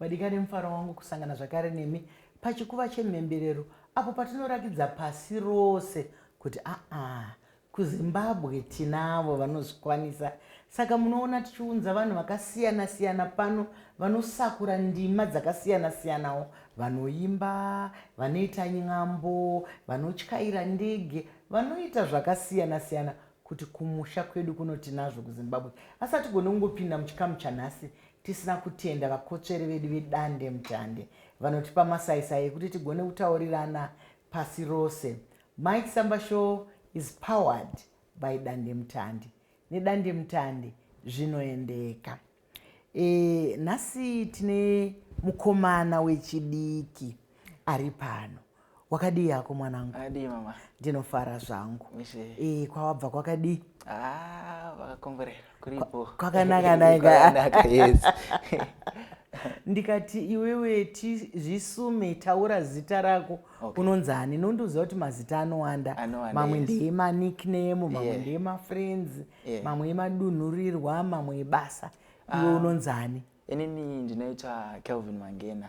Vadikani mufaro wangu kusangana zvakare nemi pachikuva chemhemberero apo patinorakidza pasi rose kuti aa kuzimbabwe tinavo vanozvikwanisa saka munoona tichiunza vanhu vakasiyana siyana pano vanosakura ndima dzakasiyana siyanawo vanoimba vanoita nyambo vanotyaira ndege vanoita zvakasiyana siyana kuti kumusha kwedu kuno tinazvo kuzimbabwe asi hatigone kungopinda muchikamu chanhasi tisina kutenda vakotsveri vedu vedande mutande vanotipa masaisai ekuti tigone kutaurirana pasi rose mike samba show is powered by dande mutande nedande mutande zvinoendeka e, nhasi tine mukomana wechidiki ari pano Wakadii hako mwanangu? Adii mama. Ndinofara zvangu. Mise. Eh, kwawabva kwakadii? Ah, vakakomborera. Kuripo. Kwakanaka naye. Kwakanaka, yes. ndikati iwewe ti zvisume taura zita rako okay. unonzi hani nondiuziva kuti mazita anowanda mamwe ndeye manickname mamwe yeah. ndeye mafriends yeah. mamwe emadunhurirwa mamwe ebasa iwe ah. unonzi hani inini ndinoita kelvin mangena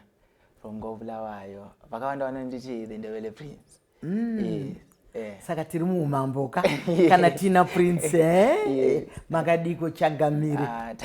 rongo bulawayo vakawanda vanonditi the ndebele prince mm. yes. Eh. saka tiri muumambo ka kana tina prince eh? makadiko chagamire ah,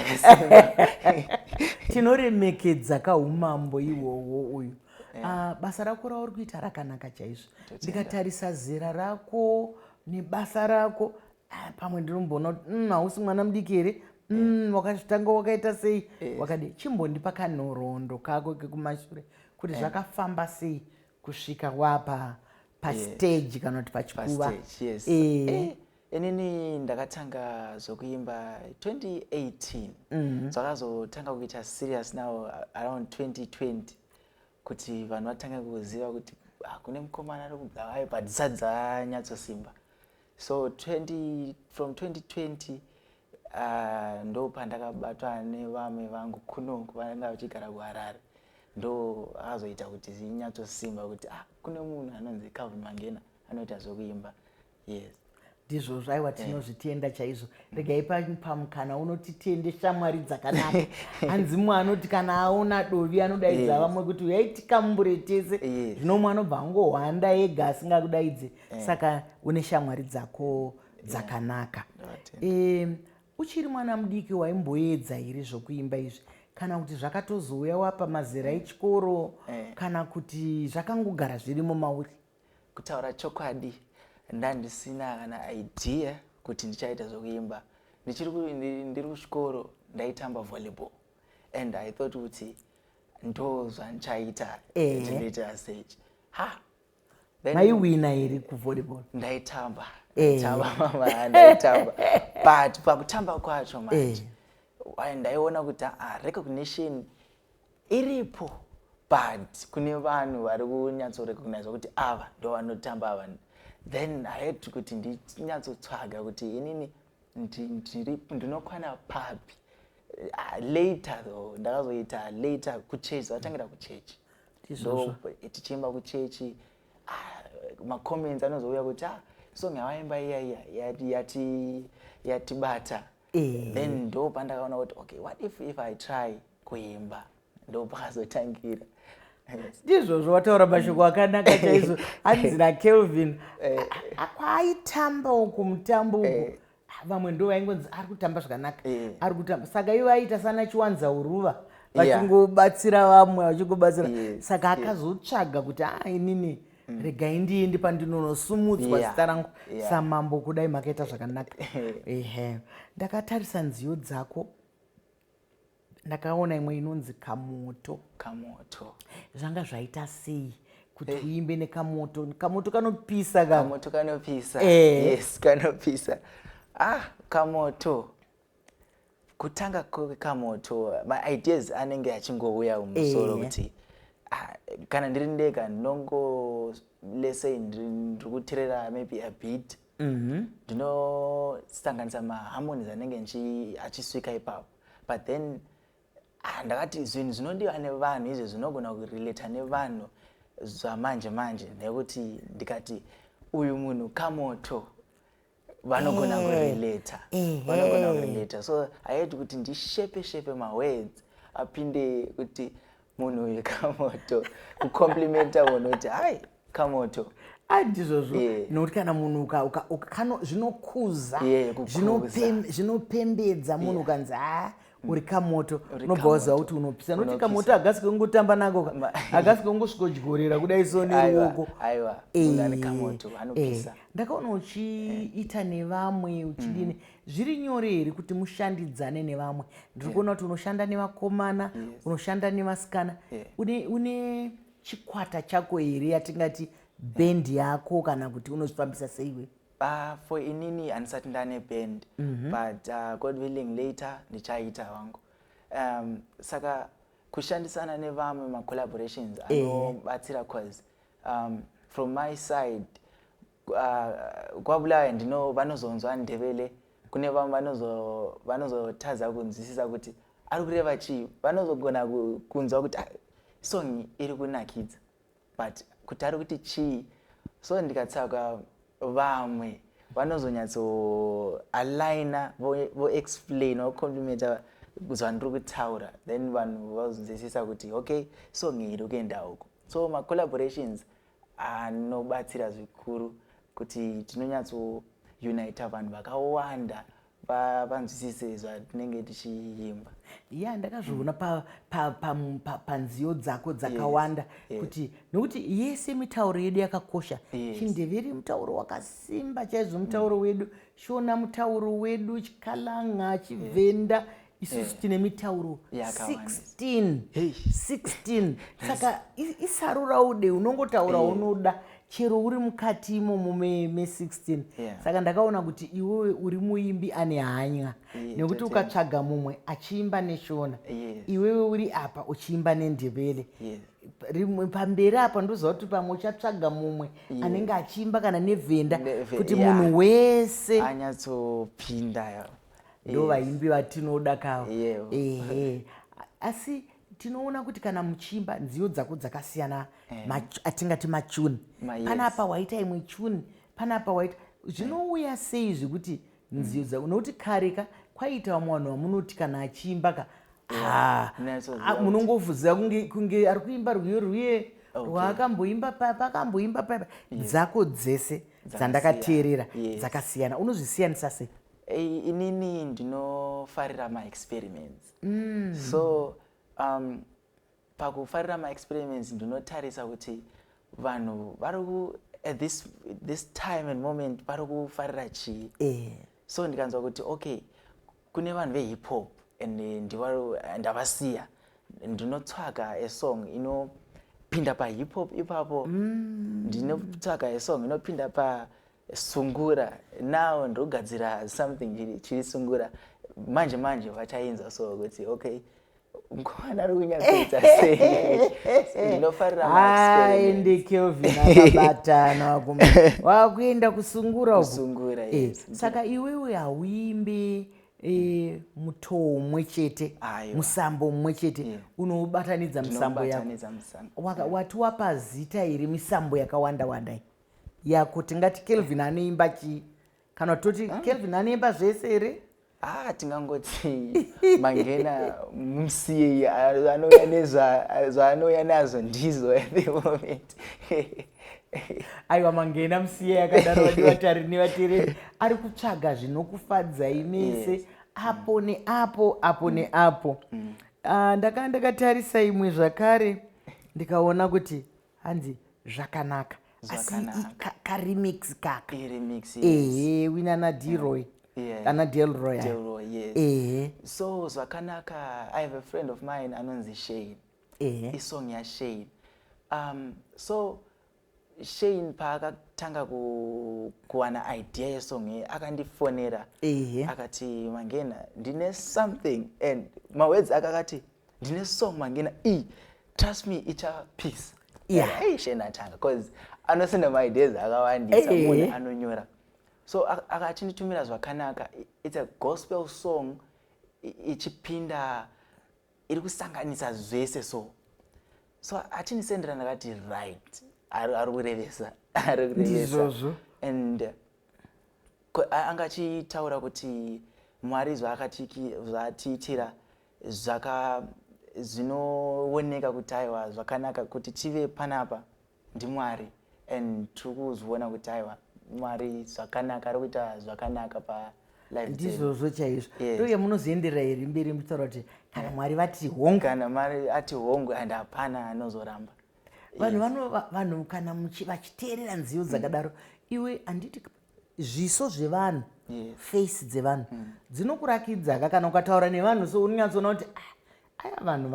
tinoremekedza kaumambo iwowo uyu eh. ah, basa rako rauri kuita rakanaka chaizvo ndikatarisa zera rako nebasa rako ah, pamwe ndinomboona kuti mm, hausi mm, mwana mudiki here eh. mm, wakazvitanga mm, wakaita sei yes. Eh. wakadi chimbondipa kanhoroondo kako kekumashure kuti eh. zvakafamba sei kusvika wapa pastage yes. kana kuti pachikuva yes. eh. eh. inini ndakatanga zvokuimba 2018 mm -hmm. zvakazotanga kuita serious now around 2020 kuti vanhu vatange kuziva kuti ah, kune mukomana ari kubulawayo but dzisati dzanyatsosimba so 20, from 2020 uh, ah, ndo pandakabatwa nevamwe vangu kuno kuvanga vachigara kuharare ndo akazoita kuti zinyatsosimba kuti ah, kune munhu anonzi calvin mangena anoita zvekuimba yes ndizvozvo aiwa eh. tinozvitenda chaizvo regai pamukana unoti tiende shamwari dzakanaka hanzi mwe anoti kana aona dovi anodaidza vamwe kuti uyai tikambure tese zvino mwe anobva angohwanda ega asingakudaidze eh. saka une shamwari dzako dzakanaka uchiri mwana mudiki waimboedza here zvokuimba izvi kana kuti zvakatozouya wapa mazera eh. echikoro kana kuti zvakangogara zvirimo mauri Kutaura chokwadi ndandisina kana idea kuti ndichaita zvekuimba. Ndichiri ndiri kuchikoro ndaitamba volleyball and I thought kuti ndo zvandichaita ndinoita stage. Ha. Maiwina here kuvolleyball? Ndaitamba. Ndaitamba mama ndaitamba. But pakutamba kwacho manje. Ndaiona kuti ah recognition iripo but kune vanhu vari kunyatso recognize kuti ava ndo vanotamba ava then haiti kuti ndinyatsotsvaga kuti inini ndinokwana papi ah, later though ndakazoita later kuchechi vatangira kuchechi so tichiimba kuchechi ah, macomments anozouya kuti ah, song yavaimba iya iya yatibata Eh. then ndo pandakaona kuti okay what if if i try kuimba ndo pakazotangira ndizvozvo wataura mashoko mm. akanaka chaizvo hanzi nakelvin eh. kwaaitamba uku mutambo uku eh. ah, vamwe ndo vaingonzi ari kutamba zvakanaka eh. ari kutamba saka ivo aiita sana chiwanza uruva vachingobatsira vamwe vachingobatsira saka akazotsvaga kuti a ah, inini yeah. mm. regai ndiende pandinonosumudzwa yeah. zita rangu yeah. samambo kudai makaita zvakanaka ehe ndakatarisa nziyo dzako ndakaona imwe inonzi kamoto kamoto zvanga zvaita sei kuti eh. uimbe nekamoto kamoto kanopisa kamoto kanopisa eh. yes kanopisa ah kamoto kutanga kwekamoto maideas anenge achingouya mumusoro eh. kuti ah, kana ndiri ndega ndinongo lesei ndiri kuterera maybe a bit mhm. ndinosanganisa mm -hmm. maharmonies anenge achisvika ipapo but then ah, ndakati zvinhu zvinodiwa nevanhu izvo zvinogona kurelata nevanhu zvamanje manje nekuti ndikati uyu munhu kamoto vanogona eh, kurelata eh, vanogona eh. kurelata so aiti kuti ndishepe shepe mawords apinde kuti munhu uyu kamoto kucomplimenta munhu kuti hai kamoto andizvozvo ah, nokuti kana munhu zvinokuza zvinopembedza munhu ukanzi ha ah, Mm. uri kamoto unobva waziva kuti unopisa noti kamoto hagasi kekungotamba nako hagasi kekungosvikodyorera kudai so neruoko eh, ndakaona uchiita nevamwe uchidini mm. zviri nyore here kuti mushandidzane nevamwe ndiri kuona kuti unoshanda nevakomana unoshanda nevasikana une chikwata chako here yatingati bendi yako kana kuti unozvifambisa seiwe Ah, for inini handisati ndane band mhm. but uh, god willing later ndichaita hangu um, saka kushandisana nevamwe macollaborations eh. anobatsira cause um, from my side uh, kwabulawayo ndino vanozonzwa ndevele kune vamwe vanozotadza kunzwisisa kuti ari kureva chii vanozogona kunzwa kuti ah, song iri kunakidza but kuti ari kuti chii so ndikatsvaga vamwe vanozonyatso alina voexplain vo vocomplimenta zvandiri kutaura then vanhu vazonzwisisa kuti okay song iyi iri kuenda huko so macollaborations anobatsira zvikuru kuti tinonyatsounita vanhu vakawanda vanzwisise zvatinenge tichiimba ya ndakazviona panziyo dzako dzakawanda kuti nokuti yese mitauro yedu yakakosha chindeveri mutauro wakasimba chaizvo mutauro mm. wedu shona mutauro wedu chikalanga chivhenda isusu eh. tine mitauro 16 saka isaruraude unongotaura eh. unoda chero uri mukati imomo me16 saka ndakaona kuti iwewe uri muimbi ane hanya nekuti ukatsvaga mumwe achiimba neshona iwewe uri apa uchiimba nendebele rimwe pamberi apa ndoziva kuti pamwe uchatsvaga mumwe yeah. anenge achiimba kana nevhenda kuti yeah. munhu wese anyatsopinda ndo vaimbi yes. vatinoda kawo yeah. ehe asi tinoona kuti kana muchiimba nziyo dzako dzakasiyana yeah. atingati machuni Ma, yes. panapa waita imwe chuni panapa waita zvinouya sei zvekuti nziyo dzako nokuti kare ka kwaiita vamwe vanhu vamunoti kana achiimba ka ah, munongofuziva kunge ari kuimba rwiyo rwiye rwaakamboimba paya paakamboimba paya dzako dzese dzandakateerera dzakasiyana unozvisiyanisa sei Hey, inini ndinofarira maexperiments mm. so um, pakufarira maexperiments ndinotarisa kuti vanhu vari at this, this time and moment vari kufarira chii eh. so ndikanzwa kuti okay kune vanhu vehip hop and ndavasiya ndinotsvaga a song inopinda pahip hop ipapo mm. ndinotsvaga a song inopinda pa sungura now ndogadzira something chiri chiri sungura manje manje vachainzwa so kuti okay mkomana ari kunyatsoita sei ndinofarira aende kelvin akabatana wakuenda kusungura kusungura eh, yes. saka iwewe hauimbi e, mutoo mumwe chete musambo mumwe chete yeah. unoubatanidza misambo yako wati wapa zita iri misambo yakawanda wanda ya ko tingati kelvin anoimba chii kana toti ah. kelvin anoimba zvese here haa ah, tingangoti mangena musiyeyi anouya nezvaanouya nazvo ndizvo at the moment aiwa mangena musiyeyi akadaro vativatari nevatereri ari kutsvaga zvinokufadzai mese apo neapo apo mm. neapo mm. Ah, ndakanga ndakatarisa imwe zvakare ndikaona kuti hanzi zvakanaka asi karemix kaka ehe wina ana deroy ana delroy ehe so zvakanaka i have a friend of mine anonzi shane ehe isong yashane um so shane paakatanga kuwana idea yesong iyi akandifonera ehe akati mangena ndine something and mawedzi akakati ndine song mangena iyi trust me ichava peace yeah. hey, shena atanga bcause anosenda maideas akawandisa hey. munhu anonyora so akachinditumira zvakanaka its a gospel song ichipinda iri kusanganisa zvese so so achinisendera ndakati right ari kurevesa ari kurevesa and anga achitaura kuti mwari zvaatiitira zvaka zvinooneka kuti aiwa zvakanaka kuti tive panapa ndimwari and tiri kuzviona kuti aiwa mwari zvakanaka ari kuita zvakanaka pa ndizvozvo chaizvo ndoye munozoenderera here mberi muchitaura kuti kana mwari vati hongu kana mwari ati hongu and hapana anozoramba vanhu vanhu kana vachiteerera nziyo dzakadaro iwe handiti zviso zvevanhu yes. face dzevanhu mm. dzinokurakidza ka kana ukataura nevanhu so unonyatsoona kuti ah, aya vanhu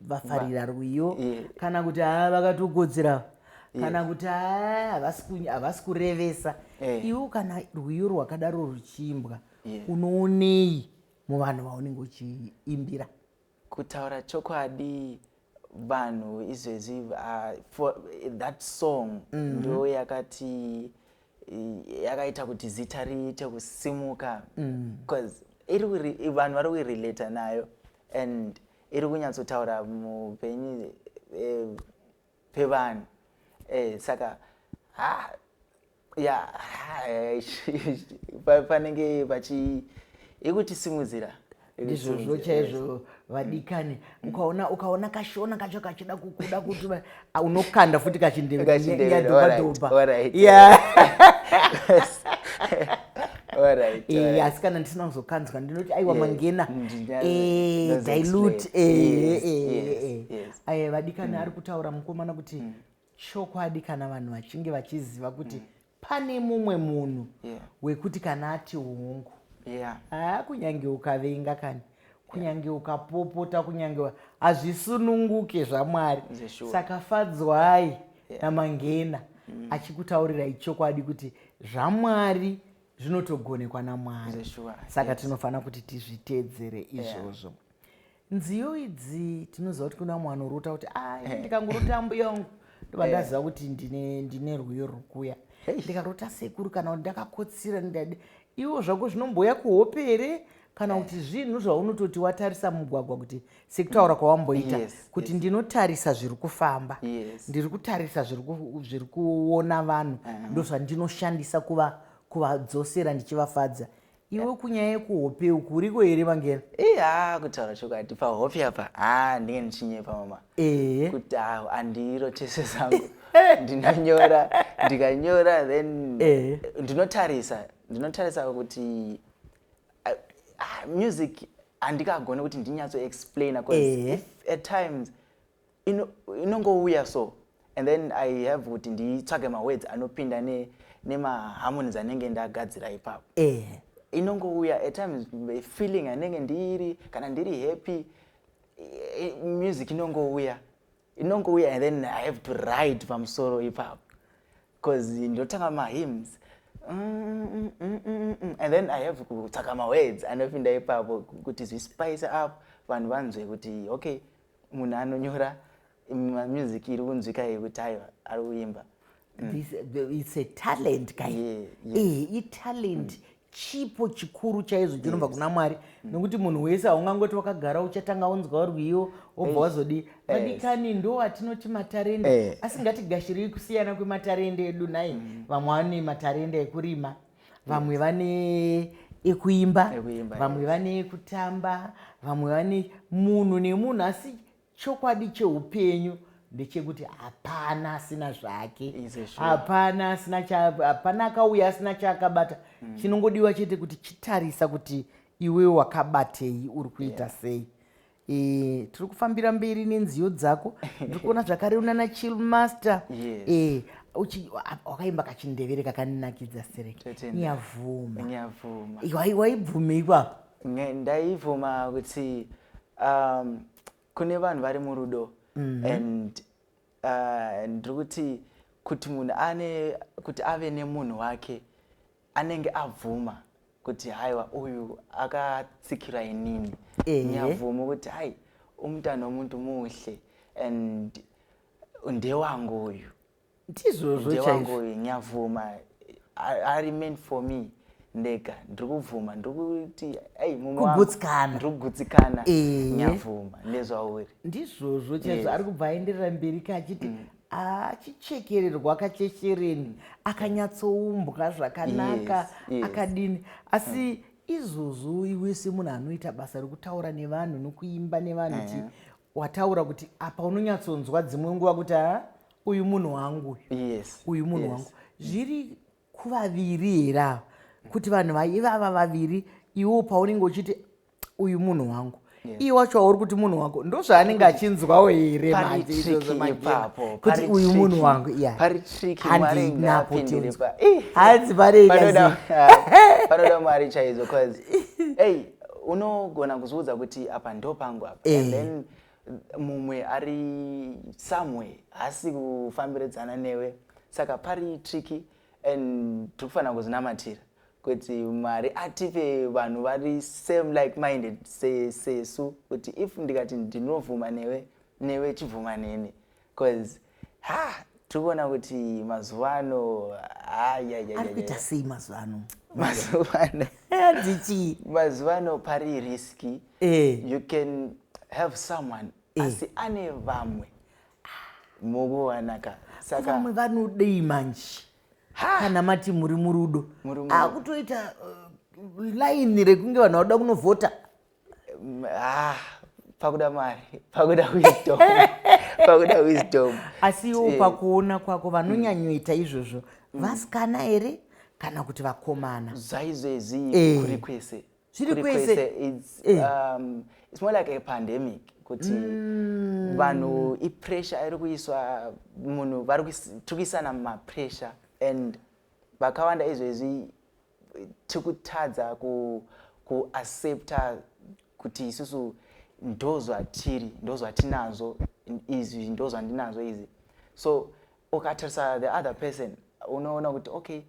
vafarira rwiyo yeah. kana kuti haa ah, vakatokodzera kana yeah. kuti haa ah, havasi kurevesa hey. Eh. iwo kana rwiyo rwakadaro ruchiimbwa yeah. unoonei muvanhu vaunenge uchiimbira Kutaura chokwadi vanhu izvezvi uh, that song mm -hmm. ndo yakati yakaita kuti zita riite kusimuka because mm. iri vanhu vari kuirelata nayo and iri kunyatsotaura mupenyu eh, pevanhu eh, saka ha ya panenge pachi ikutisimudzira ndizvozvo chaizvo vadikani mm. ukaona ukaona kashona kacho kachida kukuda kuti unokanda futi kachindeyadhobadhoba asi kana ndisina kuzokanzwa ndinoti aiwa mangena eh, dilute eh, eh, vadikani mm. ari kutaura mukomana kuti mm. Chokwadi kana vanhu vachinge vachiziva kuti mm. pane mumwe munhu yeah. wekuti kana ati hungu yeah. haa kunyange ukavenga kani kunyange ukapopota kunyange hazvisununguke zvamwari saka fadzwai yeah. namangena mm. achikutaurirai chokwadi kuti zvamwari zvinotogonekwa namwari saka tinofanira kuti tizviteedzere izvozvo yeah. nziyo idzi tinoziva kuti kuna mumwe anorota kuti a ah, ndikangorota ambuya wangu ndobva eh. ndaziva kuti ndine rwiyo rwukuya ndikarota sekuru kana kuti ndakakotsira ndidade iwo zvako zvinomboya kuhope here kana kuti eh. zvinhu zvaunototi watarisa mugwagwa kuti sekutaura kwawamboita kuti ndinotarisa zviri kufamba ndiri kutarisa zviri kuona vanhu eh. ndozvandinoshandisa kuvadzosera ndichivafadza iwe kunyaya yekuhope uku uriko here vangela eh, haa kutaura chokwadi pahope apa haa ndinge ndichinyepa mama eh. kuti haa handirotese zangu ndinonyora ndikanyora then eh. ndinotarisa ndinotarisa kuti ah, ah, music handikagone kuti ndinyatso explaina bcause at times inongouya so and then i have kuti nditsvage mawords anopinda nemaharmonies anenge ndagadzira ipapo eh. inongouya at times feeling anenge ndiri kana ndiri happy music inongouya inongouya and then i have to ride pamusoro ipapo bcause ndotanga mahymns mm, mm, mm, and then i have kutsvaka mawords anopinda ipapo kuti zvispice up vanhu vanzwe kuti okay munhu anonyora mamusic iri kunzwika yekuti aiwa ari kuimba mm. This, uh, it's a talent kai yeah, yeah. Eh, italent mm. chipo chikuru chaizvo chinobva yes. kuna mwari mm. nokuti munhu wese haungangoti wakagara uchatanga unzwa rwiyo wobva wazodii vadikani yes. ndo atinoti matarende eh. asi ngatigashirei kusiyana kwematarende edu nhai mm. vamwe vane matarende ekurima vamwe vane ekuimba vamwe vane kutamba vamwe vane munhu nemunhu asi chokwadi cheupenyu ndechekuti hapana asina zvake hapana asina hapana akauya asina chaakabata mm. chinongodiwa chete kuti chitarisa kuti iwe wakabatei uri kuita yeah. sei Eh, tiri kufambira mberi nenziyo dzako ndiri kuona zvakare unana chill master yes. eh, wakaimba kachindevere kakaninakidza sere nyavuma nyavuma waibvumei kwako ndaibvuma kuti um, kune vanhu vari murudo mm -hmm. and uh, ndiri kuti kuti munhu ane kuti ave nemunhu wake anenge abvuma kuti haiwa uyu akatsikira inini nyabvumo kuti hai umutana womuntu muhle and ndewangu uyu ndizvozvo ndewangu uyu nyabvuma ari meant for me ndega ndiri kubvuma ndiri kuti ei mumwakugutsikana ndiri kugutsikana nyabvuma ndezvauri ndizvozvo chaizvo ari kubva aenderera mberi ka achiti mm. achichekererwa kachechereni akanyatsoumbwa zvakanaka yes, yes. akadini asi mm. izvozvo iwe semunhu anoita basa rekutaura nevanhu nokuimba nevanhu ti mm. wataura kuti apa unonyatsonzwa dzimwe nguva kuti ha uyu munhu wangu yes, uyu munhu yes. wangu zviri kuvaviri here ava kuti vanhu vaivava vaviri iwo paunenge uchiti uyu munhu wangu iye wacho wauri kuti munhu wako ndozvaanenge achinzwawo here manjeizozomagekuti uyu munhu wangu iyahandinapotihanzi pareipanoda mwari chaizo bcause ey unogona kuzviudza kuti apa ndo pangu apa eh. then mumwe ari somewhere haasi kufambiridzana newe saka pari triki and tiri kufanira kuzinamatira kuti mwari atipe vanhu vari same like minded sesu kuti if ndikati ndinobvuma newe newe chibvuma neni bcause ha tiri kuona kuti mazuva ano ayayayarikuita sei mazuva ano mazuva ano ndichii mazuva ano pari riski eh. you can have someone eh. asi ane vamwe mukuwanaka saka vamwe vanodei manje kana mati muri murudo akutoita uh, line rekunge vanhu vakuda kunovhota mm, ah, pakuda mari pakuda wisdom pakuda wisdom asi iwo eh. pakuona kwako vanonyanyoita izvozvo mm. vasikana here kana kuti vakomana zvaizvezii eh. kuri kwese zviri kwese it's, eh. um, it's more like a pandemic kuti mm. vanhu ipressure iri kuiswa munhu vari kuisana mapressure and vakawanda izvezvi tikutadza ku, ku accepta kuti isusu ndozvatiri ndozvatinazvo izvi ndozvandinazvo izvi so ukatarisa the other person unoona kuti okay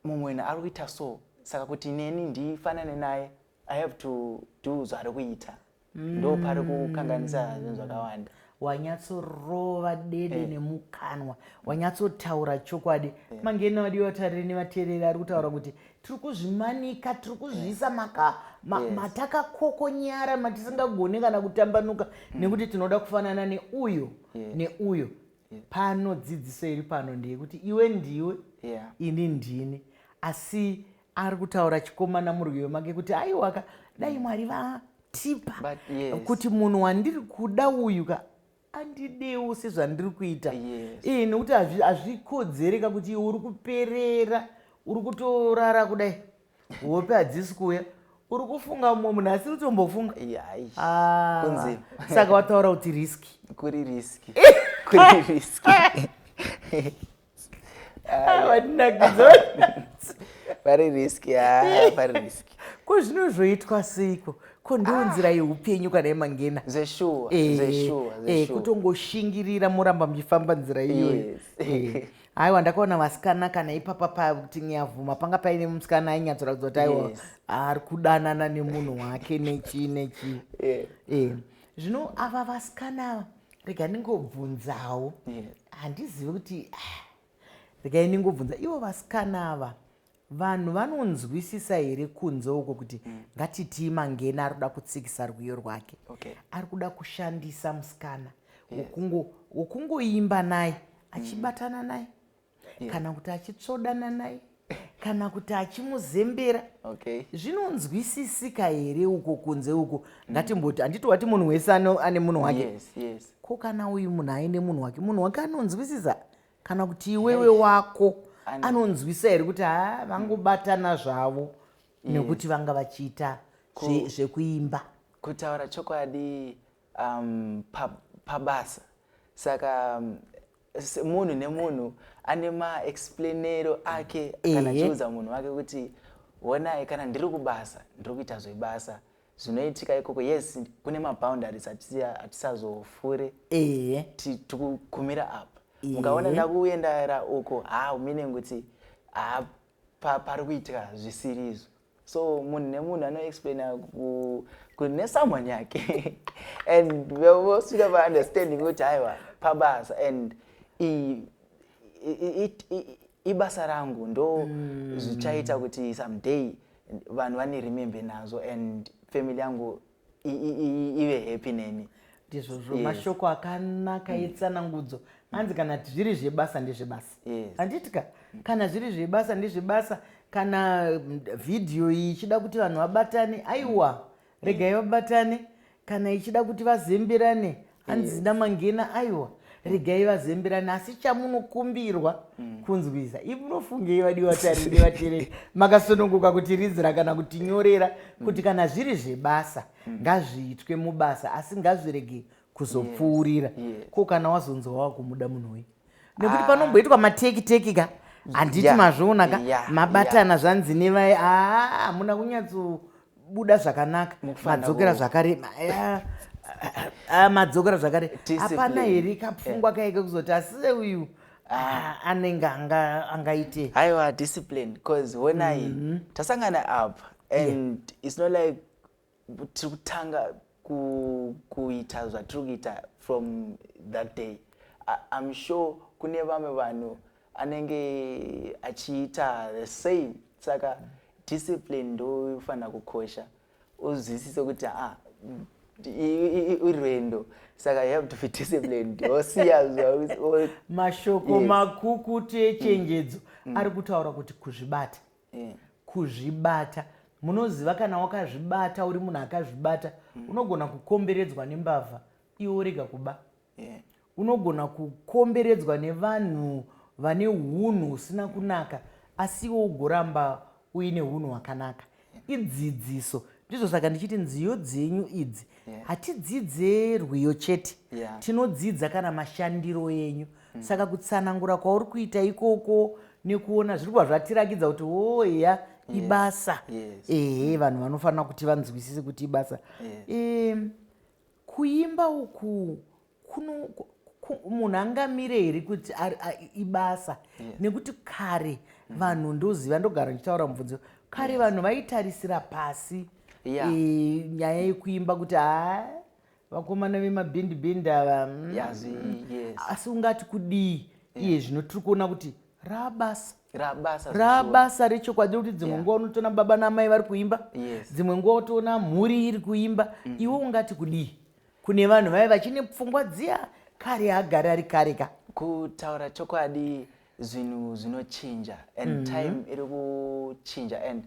mumwe wena ari kuita so saka kuti neni ndifanane naye i have to do zvaari kuita mm. ndo pari kukanganisa zvinhu zvakawanda wanyatsorova dede eh. nemukanwa wanyatsotaura chokwadi eh. mangena wadi vatariri nevateereri ari kutaura kuti tiri kuzvimanika tiri kuzviisa eh. maka ma, yes. matakakokonyara matisingagone kana kutambanuka mm. nekuti tinoda kufanana neuyo yes. neuyo yeah. pano dzidziso iri pano ndeyekuti iwe ndiwe yeah. ini ndini asi ari kutaura chikomana murwiyo make kuti aiwaka dai mm. mwari vatipa yes. kuti munhu wandiri kuda uyu ka andidewo sezvandiri kuita yes. e, nekuti hazvikodzereka kuti iwe uri kuperera uri kutorara kudai hope hadzisi kuuya uri kufunga mumwe munhu asi utombofunga ah. kunzi saka wataura kuti riski kuri riski kuri riski vari riski vari riski ko zvino zvoitwa seiko ko ndiwo ah. nzira yeupenyu kana yemangena zveshuwa eh, zveshuwa eh, kutongoshingirira moramba muchifamba nzira iyoyo eh, aiwa ndakaona vasikana kana ipapa pakuti nyavuma panga paine musikana ainyatsoratidza kuti aiwa yes. ari kudanana nemunhu wake nechii nechii yeah. yeah. zvino ava vasikana ava rega ndingobvunzawo handizivi yeah. kuti ah, rega ndingobvunza ivo vasikana ava Vanhu vanonzwisisa here kunze uko kuti mm. ngatitii mangena ari kuda kutsikisa rwiyo rwake okay. ari kuda kushandisa musikana wokungoimba yeah. naye achibatana naye yeah. kana kuti achitsvodana naye kana kuti achimuzembera okay. zvinonzwisisika here uko kunze uko mm. ngatimboti handiti wati munhu wese ane munhu wake yes, yes. ko kana uyu munhu aine munhu wake munhu wake anonzwisisa kana kuti iwewe wako anonzwisa here kuti ha vangobatana zvavo mm. nekuti vanga vachiita zvekuimba kutaura chokwadi um, pabasa pa saka um, munhu nemunhu ane maexplainero ake kana achiudza munhu wake kuti honai kana ndiri kubasa ndiri kuita zvebasa zvinoitika ikoko yes kune maboundaries hatisazofure ehe tikugumira apa mukaona ndakuendara uko ha meaning kuti ha pari kuitika zvisiri izvo so munhu nemunhu anoexplaina kune someone yake and vosvika vaunderstanding kuti haiwa pabasa and ibasa rangu ndo mm. zvichaita kuti someday vanhu vane remember nazvo and family yangu ive happy neni ndizvozvo yes. mashoko akanaka mm. etsanangudzo hanzi kana zviri zvebasa ndezvebasa handiti yes. ka kana zviri zvebasa ndezvebasa kana mm, vhidhiyo iyi ichida kuti vanhu vabatane aiwa regai vabatane kana ichida kuti vazembirane hanzi zina mangena aiwa regai vazembirane asi chamunokumbirwa mm. kunzwisa i munofungei vadiwa tariri vatereri makasonongoka kuti rizira kana kuti nyorera mm. kuti kana zviri zvebasa mm. ngazviitwe mubasa asi ngazviregei kuzopfuurira yes, yes. ko kana wazonzwa wakumuda munhu uyu nekuti ah. panomboitwa mateki teki ka handiti yeah, mazviona ka yeah, mabatana yeah. zvanzi nevai aa hamuna kunyatsobuda zvakanaka madzokera zvakare madzokera zvakare hapana here kapfungwa yeah. kaike kuzoti asise uyu Ah, anenge angaite aiwa discipline bcause honai mm -hmm. tasangana apa and yeah. its not like tiri kutanga kuita zvatiri kuita from that day im sure kune vamwe vanhu anenge achiita the same saka discipline ndofanira kukosha uzwisise kuti ah, irwendo saka you have to be disciplined osiyamashoko makukutu echenjedzo mm. mm. ari kutaura kuti kuzvibata eh. kuzvibata munoziva kana wakazvibata uri munhu akazvibata mm. unogona kukomberedzwa nembavha iwo rega kuba yeah. unogona kukomberedzwa nevanhu vane unhu husina kunaka asi iwo ugoramba uine unhu hwakanaka idzidziso ndizvo saka ndichiti nziyo dzenyu idzi yeah. hatidzidze rwiyo chete yeah. tinodzidza kana mashandiro enyu yeah. mm. saka kutsanangura kwauri kuita ikoko nekuona zviri kuva zvatirakidza kuti wo eya ibasa yes. ehe vanhu vanofanira kuti vanzwisise kuti ibasa yes. e, kuimba uku kuno munhu angamire here kuti ibasa yes. nekuti kare mm. vanhu ndoziva ndogara ndichitaura mubvunzo kare yes. vanhu vaitarisira pasi yeah. e, nyaya yekuimba kuti haa vakomana vemabhindi bhindi ava mm. yes, yes. asi ungati kudii yeah. iye zvino tiri kuona kuti rabasa rabasa rechokwadi rekuti dzimwe nguva unotoona baba naamai vari kuimba dzimwe nguva utoona mhuri iri kuimba mm. iwe ungati kudii kune vanhu vave vachine pfungwa dziya kare agari ari kare ka kutaura chokwadi zvinhu zvinochinja and mm -hmm. time iri kuchinja and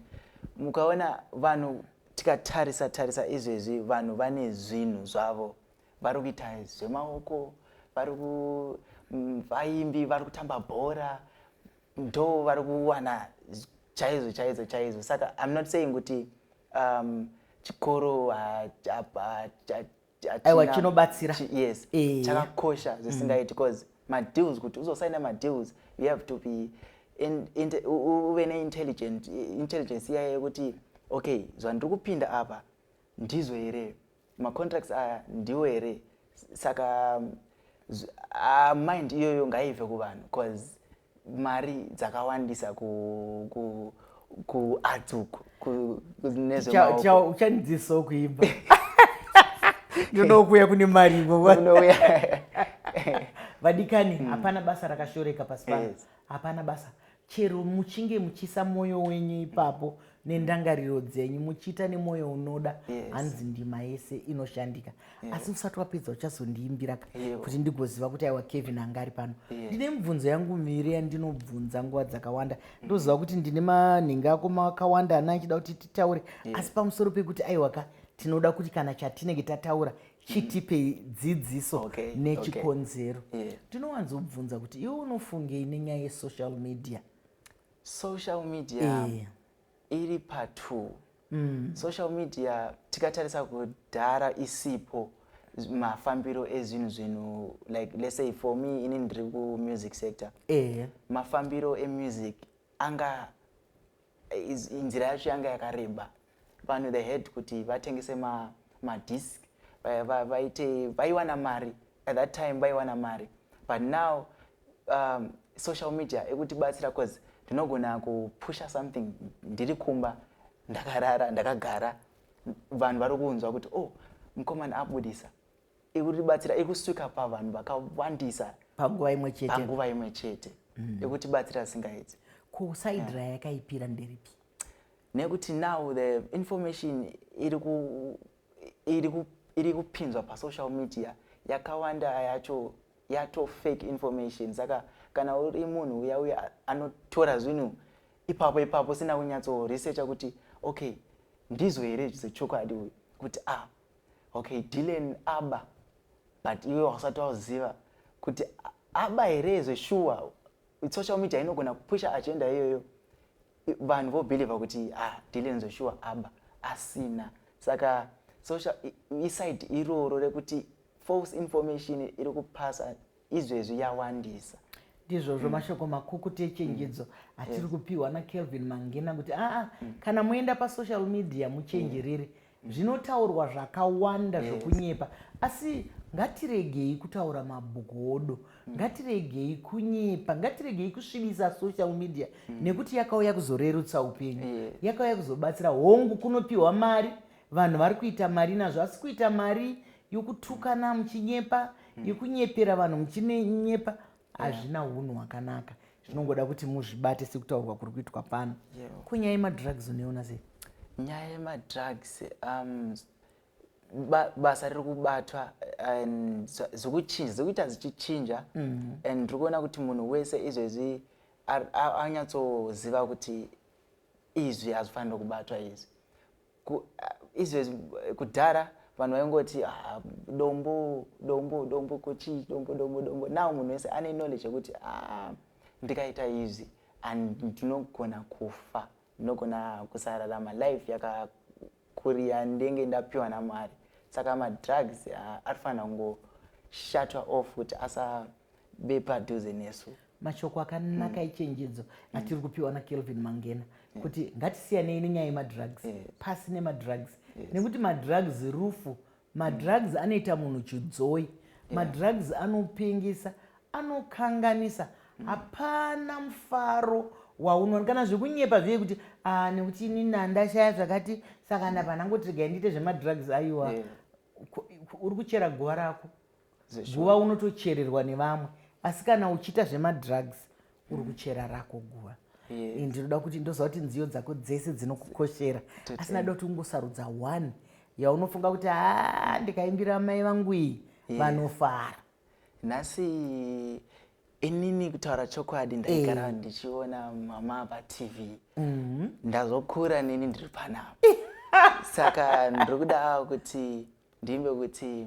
mukaona vanhu Tikatarisa tarisa izvezvi vanhu vane zvinhu zvavo vari kuita zvemaoko vari ku mm, vaimbi vari kutamba bhora ndo vari kuwana chaizvo chaizvo chaizvo saka i'm not saying kuti um, chikoro aiwa chinobatsira yes eh. chakakosha mm. zvisingaiti because madeals kuti uzosaina madeals you have to be uve neintelligent intelligence iya yekuti okay zvandiri kupinda apa ndizvo here macontracts aya ndiwo here saka uh, mind iyoyo ngaive kuvanhu bcause mari dzakawandisa ku, ku, ku arts uku uchandidzisawo kuimba ndonokuya kune mari ivovonouya vadikani hmm. hapana basa rakashoreka pasi pano hapana basa chero muchinge muchisa mwoyo wenyu ipapo nendangariro dzenyu muchiita nemwoyo unoda hanzi yes. ndima yese inoshandika yes. asi usati wapedza uchazondiimbira ka yes. kuti ndigoziva kuti aiwa kevin anga ari pano yes. ndine mibvunzo yangu miviri yandinobvunza nguva dzakawanda mm. ndoziva mm. kuti ndine manhenga ako makawanda ana achida kuti titaure yes. asi pamusoro pekuti aiwa ka tinoda kuti kana chatinenge tataura chitipe mm. dzidziso okay. nechikonzero okay. yeah. ndinowanzobvunza kuti iwe unofungei nenyaya yesocial media social media yeah. iri patwo mm. social media tikatarisa kudhara isipo mafambiro ezvinhu zvinhu like let's say for me ini ndiri kumusic sector yeah. mafambiro emusic anga inzira yacho yanga yakareba vanhu they had kuti vatengese ma, ma disc vaite vaiwana mari at that time vaiwana mari but now um, social media ekutibatsira bcause ndinogona kupusha something ndiri kumba ndakarara ndakagara vanhu vari kunzwa kuti oh mukomana abudisa ikutibatsira ikusvika pavanhu vakawandisa panguva imwe chete panguva imwe chete mm. ikutibatsira singaiti kusaidra yeah. yakaipira nderipi nekuti now the information iri kupinzwa pasocial media yakawanda yacho yato fake information saka kana uri munhu uya uya anotora zvinhu ipapo ipapo sina kunyatso researcha kuti okay ndizvo here zvechokwadi uyu kuti ah okay dilen aba but iwe wasati wauziva kuti aba here zveshuwa social media inogona kupusha agenda iyoyo vanhu vobhilivha kuti ah, Dylan Joshua aba asina saka social iside iroro rekuti false information iri kupasa izvezvi yawandisa ndizvozvo mm. mashoko makukuti echenjedzo mm. atiri kupiwa nakelvin mangina kuti aa ah, ah, mm. kana moenda pasocial media muchenjerere zvinotaurwa zvakawanda yes. zvokunyepa asi ngatiregei kutaura mabogodo mm. ngatiregei kunyepa ngatiregei kusvibisa social media mm. nekuti yakauya kuzorerutsa upenyu yes. yakauya kuzobatsira hongu kunopiwa mari vanhu vari kuita mari nazvo asi kuita mari yokutukana muchinyepa mm. yokunyepera vanhu muchinyepa hazvina yeah. hunhu hwakanaka zvinongoda yeah. kuti muzvibate sekutaurwa kuri kuitwa pano yeah. ko nyaya yemadrugs unoiona sei nyaya yemadrugs um, ba, basa riri kubatwa and zikuchinja zikuita zichichinja mm -hmm. and tiri kuona kuti munhu wese izvezvi anyatsoziva kuti izvi hazvifanire kubatwa izvi Ku, izvezvi kudhara vanhu vaingoti ah, dombo dombo dombo kochii dombo dombo dombo now munhu wese ane knowledge yekuti ah, ndikaita izvi and ndinogona kufa ndinogona kusararama life yakakuri yandenge ndapiwa namwari saka madrugs ah, ari fanira kungoshatwa off kuti asabe padhuze nesu mashoko akanaka mm. echenjedzo mm. atiri kupiwa nakelvin mangena yeah. kuti ngatisiyanei nenyaya yemadrugs yeah. pasi nemadrugs yes. nekuti madrugs rufu madrugs mm. anoita munhu chidzoi yeah. madrugs anopengesa anokanganisa mm. hapana mm. mufaro waunoona kana zvekunyepa zviye kuti ah, nekuti ini nandashaya zvakati saka ndapa ndangotirega ndiite zvemadrugs aiwa yeah. uri kuchera guva rako guva unotochererwa nevamwe asi kana uchiita zvemadrugs mm. uri kuchera rako guva yes. Eh, ndinoda kuti ndoziva kuti nziyo dzako dzese dzinokukoshera asi nada kuti ungosarudza one yaunofunga kuti ha ndikaimbira mai vangu iyi yes. vanofara nhasi inini kutaura chokwadi ndaigara eh. ndichiona mama patv mhm. ndazokura nini ndiri panapa saka ndiri kuda kuti ndiimbe kuti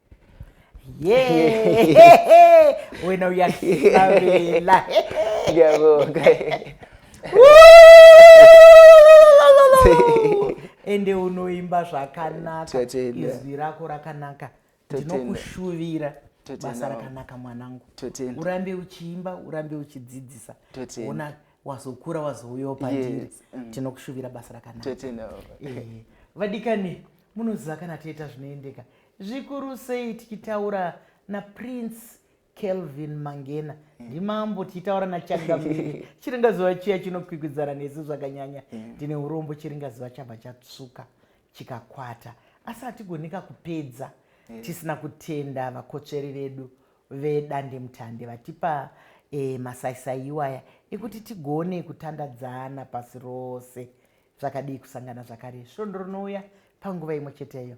wena uyaavela ende unoimba zvakanaka izwi rako rakanaka ndinokushuvira basa rakanaka mwanangu urambe uchiimba urambe uchidzidzisa ona wazokura wazouyawo pandiri yes. mm. tinokushuvira basa rakanaka eh, vadikani munoziva kana toita zvinoendeka Zvikuru sei tichitaura naPrince Kelvin Mangena hmm. ndimambo tichitaura naChangamire chiringazuva chiya chinokwikwidzana nesu zvakanyanya hmm. tine urombo chiringazuva chabva chatsvuka chikakwata asi hatigoneka kupedza hmm. tisina kutenda vakotsveri vedu vedandemutande vatipa e, masaisai iwaya ekuti tigone kutandadzana pasi rose zvakadii kusangana zvakare svondo rinouya panguva imwe cheteyo